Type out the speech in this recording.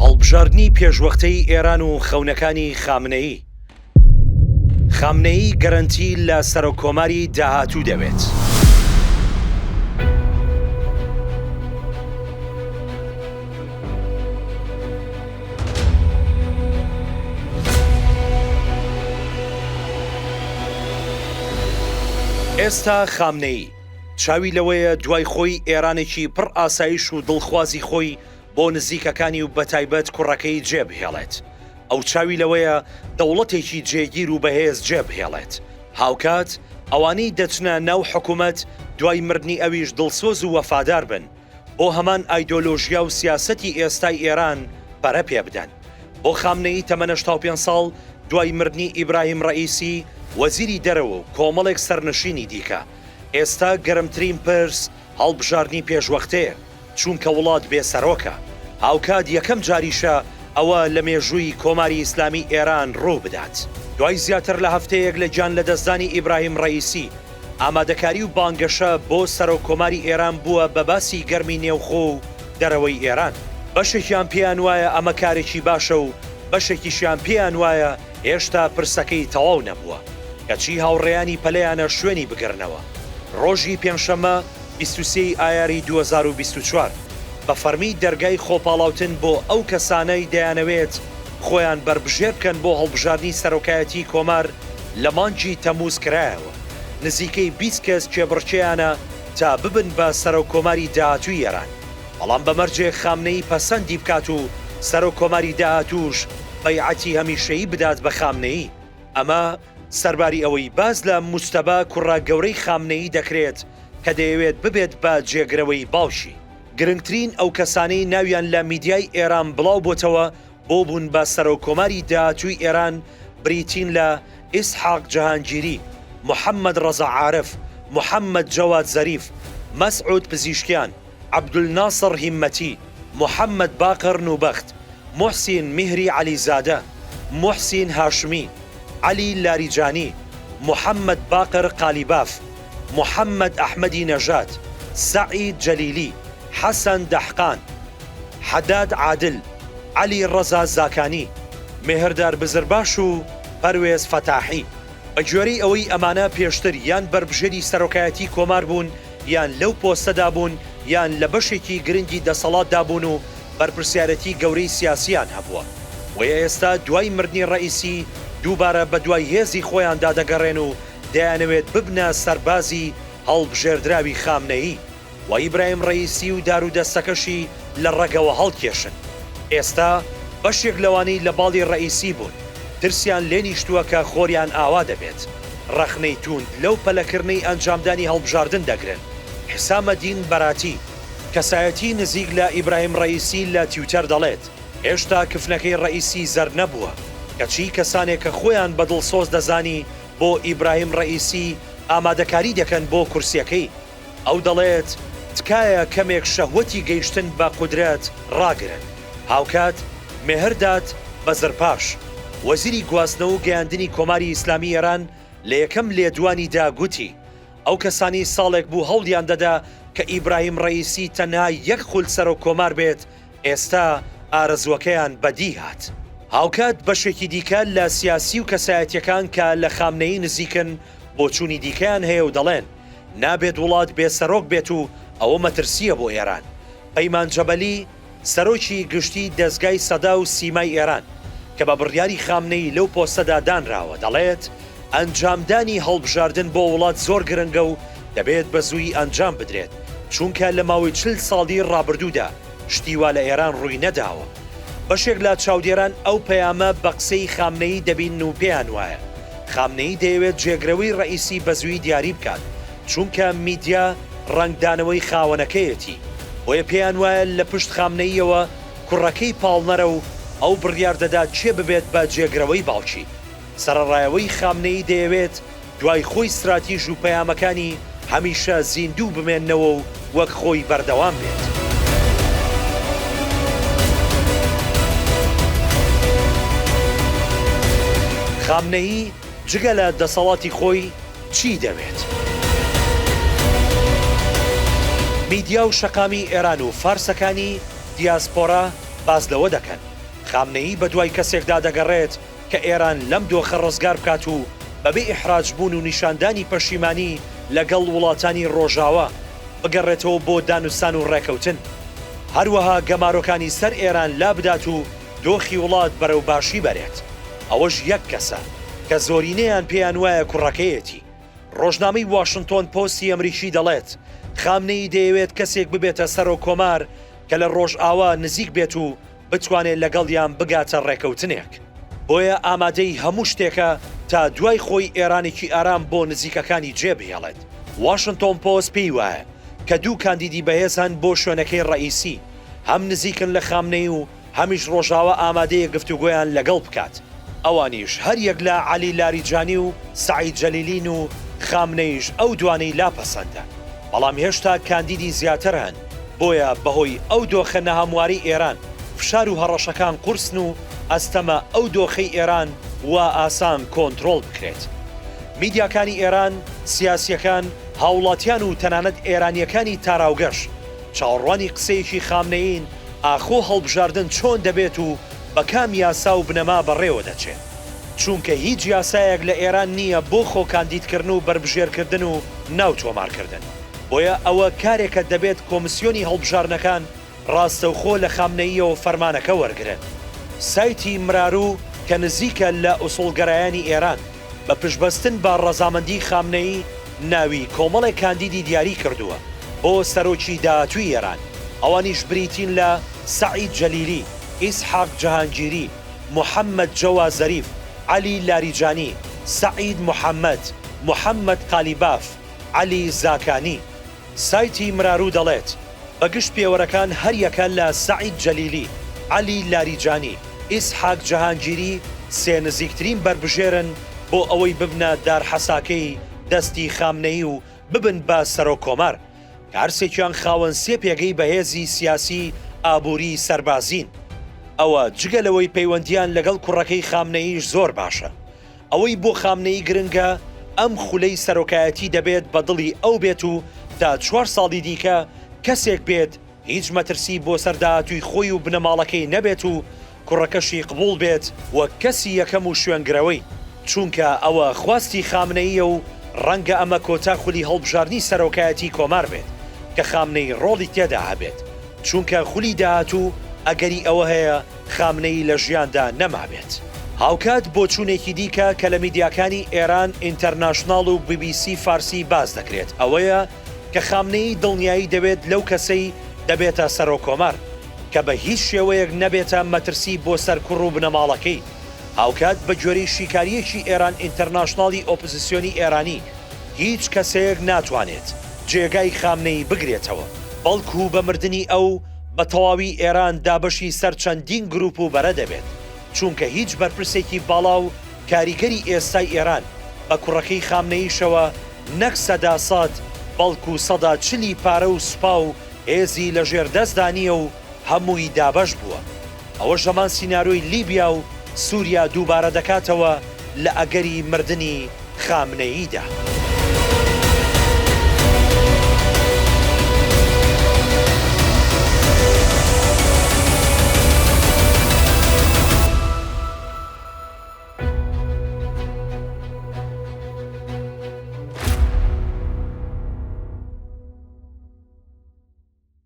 هەڵبژاردنی پێشوەختەی ئێران و خەونەکانی خامنەیی. خامنەیی گەرەنتی لە سەرۆککۆماری داهاتوو دەوێت. ئێستا خامنەیی چاوی لەوەیە دوای خۆی ئێرانێکی پڕ ئاسایش و دڵخوازی خۆی بۆ نزیکەکانی و بەتایبەت کوڕەکەی جێبهێڵێت، ئەو چاوی لەوەیە دەوڵەتێکی جێگیر و بەهێز جێبهێڵێت، هاوکات ئەوانەی دەچنە ناو حکومەت دوای مردنی ئەویش دڵسۆز و وەفادار بن، بۆ هەمان ئایدۆلۆژیا و سیاسەتی ئێستای ئێران پەرە پێبدەن. بۆ خامنەیی تەمەنە شتا و پێنج ساڵ دوای مردنی ئیبراهیم ڕەئیسی وەزیری دەرەوە و کۆمەڵێک سەرنشینی دیکە، ئێستا گەرمترین پرس هەڵبژاردنی پێشوەختەیە. چونکە وڵات بێ سەرۆکە. هاوکات یەکەم جاریشە ئەوە لە مێژووی کۆماری ئیسلامی ئێران ڕوو بدات. دوای زیاتر لە هەفتەیەک لە گیان لەدەستدانی ئیبراهیم ڕەئیسی، ئامادەکاری و بانگەشە بۆ سەرۆک کۆماری ئێران بووە بە باسی گەرمی نێوخۆ و دەرەوەی ئێران. بەشێکیان پێیان وایە ئەمە کارێکی باشە و بەشێکیشیان پێیان وایە هێشتا پرسەکەی تەواو نەبووە، کەچی هاوڕێیانی پەلەیانە شوێنی بگرنەوە. ڕۆژی پێنجشەممە بیست و سێ ی ئایاری دوو هەزار و بیست و چوار بە فەرمی دەرگای خۆپاڵاوتن بۆ ئەو کەسانەی دەیانەوێت خۆیان بەربژێر بکەن بۆ هەڵبژاردنی سەرۆکایەتیی کۆمار لە مانگی تەمووز کرایەوە، نزیکەی بیست کەس کێبڕکێیانە تا ببن بە سەرۆککۆماری داهاتووی ئێران، بەڵام بە مەرجێک خامنەیی پەسەندی بکات و سەرۆککۆماری داهاتووش بەیعەتی هەمیشەیی بدات بە خامنەیی، ئەمە. سەرباری ئەوەی باس لە موجتەبا کوڕە گەورەی خامنەیی دەکرێت کە دەیەوێت ببێت بە جێگرەوەی باوکی، گرنگترین ئەو کەسانەی ناویان لە میدیای ئێران بڵاو بۆتەوە بۆ بوون بە سەرۆک کۆماری داهاتووی ئێران بریتین لە، ئیسحاق جەهانگیری، محەممەد ڕەزا عارف، محەممەد جەواد زەریف، مەسعود پزیشکیان، عەبدولناسڕ هیممەتی، موحەممەد باقر نوبەخت، موحسین میهری عەلیزادە، موحسین هاشمی، عەلی لاریجانی، موحەممەد باقر قالیباف، موحەممەد ئەحمەدی نەژاد، سەعید جەلیلی، حەسەن دەحقان، حەداد عادل، عەلیڕەزا زاکانی، مێهردار بزرباش و پەروێز فەتاحی، بەگوێرەی ئەوەی ئەمانە پێشتر یان بەربژێری سەرۆکایەتیی کۆمار بوون، یان لەو پۆستەدا بوون یان لە بەشێکی گرنگی دەسەڵاتدا بوون و بەرپرسیارێتی گەورەی سیاسییان هەبووە، بۆیە ئێستا دوای مردنی ڕەئیسی دووبارە بەدوای هێزی خۆیاندا دەگەڕێن و دەیانەوێت ببنە سەربازی هەڵبژێردراوی خامنەیی و ئیبراهیم ڕەئیسی و دارودەستەکەشی لە ڕەگەوە هەڵکێشن. ئێستا بەشێک لەوانەی لە باڵی ڕەئیسی بوون، ترسیان لێ نیشتووە کە خۆریان ئاوا دەبێت. ڕەخنەی تووند لەو پەلەکرنەی ئەنجامدانی هەڵبژاردن دەگرن. حسامەدین بەراتی، کەسایەتی نزیک لە ئیبراهیم ڕەئیسی لە تویتەر دەڵێت، هێشتا کفنەکەی ڕەئیسی زەرد نەبووە، کەچی کەسانێک کە خۆیان بە دڵسۆز دەزانی بۆ ئیبراهیم ڕەئیسی ئامادەکاری دەکەن بۆ کورسیەکەی. ئەو دەڵێت، تکایە کەمێک شەهوەتی گەیشتن بە قودرەت ڕاگرن. هاوکات، مێهرداد بەزرپاش، وەزیری گواستنەوە و گەیاندنی کۆماری ئیسلامیی ئێران لە یەکەم لێدوانیدا گوتی، ئەو کەسانەی ساڵێک بوو هەوڵیان دەدا کە ئیبراهیم ڕەئیسی تەنها یەک خول سەرۆککۆمار بێت، ئێستا ئارەزووەکەیان بەدی هات. هاوکات بەشێکی دیکە لە سیاسی و کەسایەتییەکان کە لە خامنەیی نزیکن، بۆچوونی دیکەیان هەیە و دەڵێن، نابێت وڵات بێ سەرۆک بێت و ئەوە مەترسییە بۆ ئێران. پەیمان جەبەلی، سەرۆکی گشتی دەزگای سەدا و سیمای ئێران، کە بە بڕیاری خامنەیی لەو پۆستەدا دانراوە، دەڵێت، ئەنجامدانی هەڵبژاردن بۆ وڵات زۆر گرنگە و دەبێت بەزوویی ئەنجام بدرێت، چونکە لە ماوەی چل ساڵی ڕابردوودا، شتی وا لە ئێران ڕووی نەداوە. بەشێک لە چاودێران ئەو پەیامە بە قسەی خامنەیی دەبینن و پێیان وایە خامنەیی دەیەوێت جێگرەوەی ڕەئیسی بە زووی دیاری بکات، چونکە میدیا ڕەنگدانەوەی خاوەنەکەیەتی، بۆیە پێیان وایە لە پشت خامنەییەوە کوڕەکەی پاڵنەرە و ئەو بڕیار دەدات کێ ببێت بە جێگرەوەی باوکی. سەرەڕایەوەی خامنەیی دەیەوێت دوای خۆی ستراتیژ و پەیامەکانی هەمیشە زیندوو بمێننەوە و وەک خۆی بەردەوام بێت. خامنەیی جگە لە دەسەڵاتی خۆی چی دەوێت؟ میدیا و شەقامی ئێران و فارسەکانی دیاسپۆرا باس لەوە دەکەن، خامنەیی بەدوای کەسێکدا دەگەڕێت، کە ئێران لەم دۆخە ڕزگار بکات و بەبێ ئیحراج بوون و نیشاندانی پەشیمانی لەگەڵ وڵاتانی ڕۆژاوا، بگەڕێتەوە بۆ دانوستان و ڕێکەوتن. هەروەها گەمارۆکانی سەر ئێران لابدات و دۆخی وڵات بەرەو باشی بەرێت. ئەوەش یەک کەسە، کە زۆرینەیان پێیان وایە کوڕەکەیەتی. ڕۆژنامەی واشنتۆن پۆستی ئەمریکی دەڵێت، خامنەیی دەیەوێت کەسێک ببێتە سەرۆککۆمار کە لە ڕۆژاوا نزیک بێت و بتوانێت لەگەڵیان بگاتە ڕێکەوتنێک، بۆیە ئامادەی هەموو شتێکە تا دوای خۆی ئێرانێکی ئارام بۆ نزیکەکانی جێبهێڵێت. واشنتۆن پۆست پێی وایە کە دوو کاندیدی بەهێز هەن بۆ شوێنەکەی ڕەئیسی، هەم نزیکن لە خامنەیی و هەمیش ڕۆژاوا ئامادەیە گفتوگۆیان لەگەڵ بکات. ئەوانیش هەر یەک لە عەلی لاریجانی و سەعید جەلیلین و خامنەییش ئەو دوانەی لا پەسەندە، بەڵام هێشتا کاندیدی زیاتر هەن، بۆیە بەهۆی ئەو دۆخە نەهەموارەی ئێران فشار و هەڕەشەکان قورسن و ئەستەمە ئەو دۆخەی ئێران وا ئاسان کۆنترۆڵ بکرێت. میدیاکانی ئێران، سیاسییەکان، هاوڵاتیان و تەنانەت ئێرانییەکانی تاراوگەش چاوەڕوانی قسەیەکی خامنەیین ئاخۆ هەڵبژاردن چۆن دەبێت و بە کام یاسا و بنەما بەڕێوە دەچێ؟ چوونکە هیچ یاسایەک لە ئێران نییە بۆ خۆ کاندید کردن و بەربژێر کردن و ناو تۆمار کردن. بۆیە ئەوە کارێکە دەبێت کۆمسیۆنی هەڵبژاردنەکان ڕاستەوخۆ لە خامنەییەوە فەرمانەکە وەرگرن. سایتی مراروو کە نزیکە لە ئوسوڵگەرایانی ئێران، بە پشتبەستن بە ڕەزامەندی خامنەیی ناوی کۆمەڵێک کاندیدی دیاری کردووە بۆ سەرۆکی داهاتووی ئێران، ئەوانیش بریتین لە، سەعید جەلیلی، ئیسحاق جەهانگیری، محەممەد جەوا زەریف، عەلی لاریجانی، سەعید محەممەد، محەممەد قالیباف، عەلی زاکانی. سایتی مراروو دەڵێت، بە گشت پێوەرەکان هەریەکە لە سەعید جەلیلی، عەلی لاریجانی، ئیسحاق جەهانگیری سێ نزیکترین بەربژێرن بۆ ئەوەی ببنە دارحەساکەی دەستی خامنەیی و ببن بە سەرۆک کۆمار، کە هەرسێکیان خاوەن سێ پێگەی بەهێزی سیاسی، ئابووری، سەربازین. ئەوە جگە لەوەی پەیوەندییان لەگەڵ کوڕەکەی خامنەییش زۆر باشە، ئەوەی بۆ خامنەیی گرنگە ئەم خولەی سەرۆکایەتی دەبێت بە دڵی ئەو بێت و تا چوار ساڵی دیکە کەسێک بێت هیچ مەترسی بۆ سەر داهاتووی خۆی و بنەماڵەکەی نەبێت و کوڕەکەشی قبوڵ بێت وەک کەسی یەکەم و شوێنگرەوەی، چونکە ئەوە خواستی خامنەییە و ڕەنگە ئەمە کۆتا خولی هەڵبژاردنی سەرۆکایەتی کۆمار بێت کە خامنەیی ڕۆڵی تێدا هەبێت، چونکە خولی داهاتوو ئەگەری ئەوە هەیە، خامنەیی لە ژیاندا نەمابێت. هاوکات بۆچوونێکی دیکە کە لە میدیاکانی ئێران ئینتەرناشناڵ و بی بی سی فارسی باس دەکرێت ئەوەیە کە خامنەیی دڵنیایی دەوێت لەو کەسەی دەبێتە سەرۆککۆمار کە بە هیچ شێوەیەک نەبێتە مەترسی بۆ سەر کوڕ و بنەماڵەکەی هاوکات بە گوێرەی شیکارییەکی ئێران ئینتەرناشناڵی ئۆپزسیۆنی ئێرانی هیچ کەسەیەک ناتوانێت جێگای خامنەیی بگرێتەوە بەڵکوو بە مردنی ئەو بە تەواوی ئێران دابەشی سەر چەندین گروپ و بەرە دەبێت، چوونکە هیچ بەرپرسێکی باڵا و کاریگەری ئێستای ئێران بە کوڕەکەی خامنەییشەوە نەک سەدا سەد بەڵکوو سەدا چلی پارە و سوپا و هێزی لە ژێر دەستدا نییە و هەمووی دابەش بووە. ئەوەش هەمان سینارۆی لیبیا و سوریا دووبارە دەکاتەوە لە ئەگەری مردنی خامنەییدا.